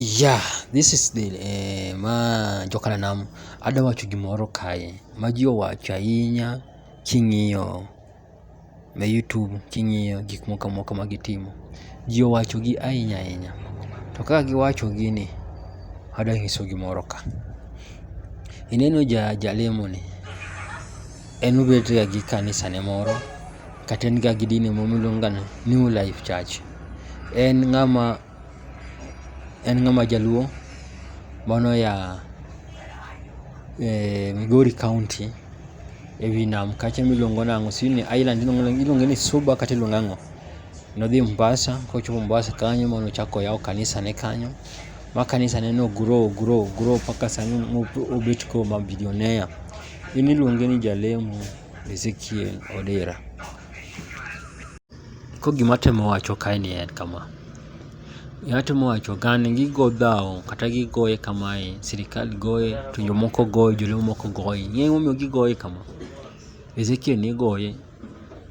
Yeah, this is the, eh, ma jokananam, adwa wacho gimoro kae ma ji owacho ahinya king'iyo e YouTube, king'iyo gik moko amoko ma gitimo. Ji owacho gi ahinya ahinya. To kaka giwacho gini, adwa nyiso gimoro ka. Ineno ja jalemo ni, en obet ga gi kanisa ne moro, kata en ga gi dini moro miluongo ga ni New Life Church. En ng'ama. En ng'ama jaluo mane oya e Migori kaunti ewi nam kacha miluongo nang'o sijui ni island iluonge ni Suba kata iluonge ang'o. Nodhi Mombasa kochopo Mombasa kanyo mane ochako oyawo kanisa ne kanyo ma kanisa ne no grow grow grow mpaka sani mobet koro ma billionaire. En iluonge ni jalemo Ezekiel Odera. Koro gima atemo wacho kae ni en kama, gima atemo wacho kae ni gigo dhao kata gigoye kamae, sirkal goye to jomoko goye, joluo moko goye. Ing'eyo gima omiyo gigoye kama? Ezekiel ne igoye,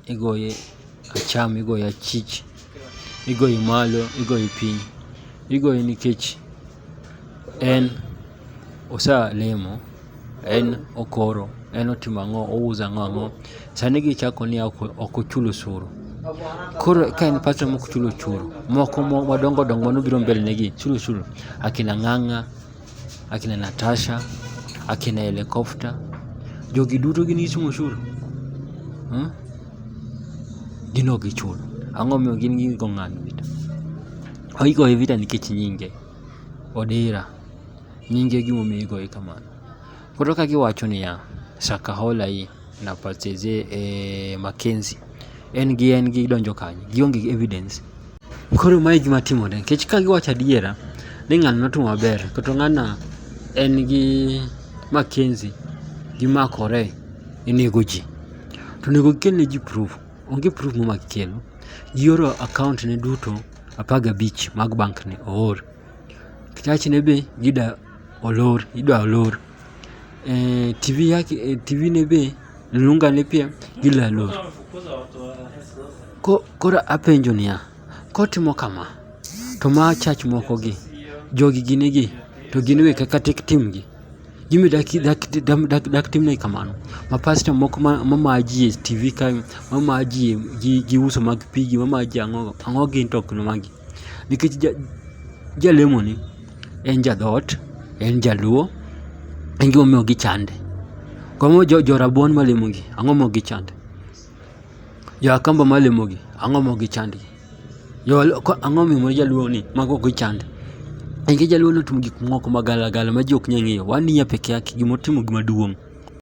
igoye acham, igoye achich, igoye malo, igoye piny. Igoye nikech. En osalemo, en okoro, en otimo ang'o, ouso ang'o ang'o. Sani gichako ni ok ochul osuru. Koro ka en pastor mok chul osuru, moko madongo dongo mane obiro mbele negi chulo osuru. Akina Ng'ang'a, akina Natasha, akina Helicopter, jogi duto gin gichulo osuru? Mmh, gin ok gichul. Ang'o momiyo gin gi ng'anyo? Oigoye vita nikech nyinge, Odira. Nyinge e gimomiyo igoye kamano. Koro ka giwacho niya, Shakahola hii na pacheze e eh, Mackenzie. En gi en gi donjo kanye? Gionge gi evidence. Koro mae gima timore nikech ka giwacho adiera ni ng'ano notimo maber kata ng'ano en gi Mackenzie gimakore inego ji. To onego gikelne ji proof. Onge proof muma gikelo. Gioro account ne duto apar gabich mag bank ni oor. Kitach ne be gida olor idwa olor. Eh, TV yake eh, TV ne be lunga ne pia gila lor. Ko, kora apenjo niya, kotimo kama to ma chach moko gi jogi gine gi to gin we kaka tek timgi. Jimmy dak dak dak dak dak timne kamano. Ma pastor moko ma mamaji e TV kae, mamaji gi gi uso mag pigi, mamaji ang'o ang'o gin to ok magi. Nikech ja jalemo ni en ja dhoot, en jaluo, en gimomiyo gichande. Koro jo jo rabuon malemo gi, ang'o momiyo gichande? Jo Akamba ma lemo gi ang'o ma ok gi chand gi? Ang'o ma omiyo moro jaluo ni mago ok gi chand? Nikech jaluo ni otimo gik moko ma gala gala ma ji ok nyal ng'eyo. Wan ni ya peke yake gima otimo gima duong'.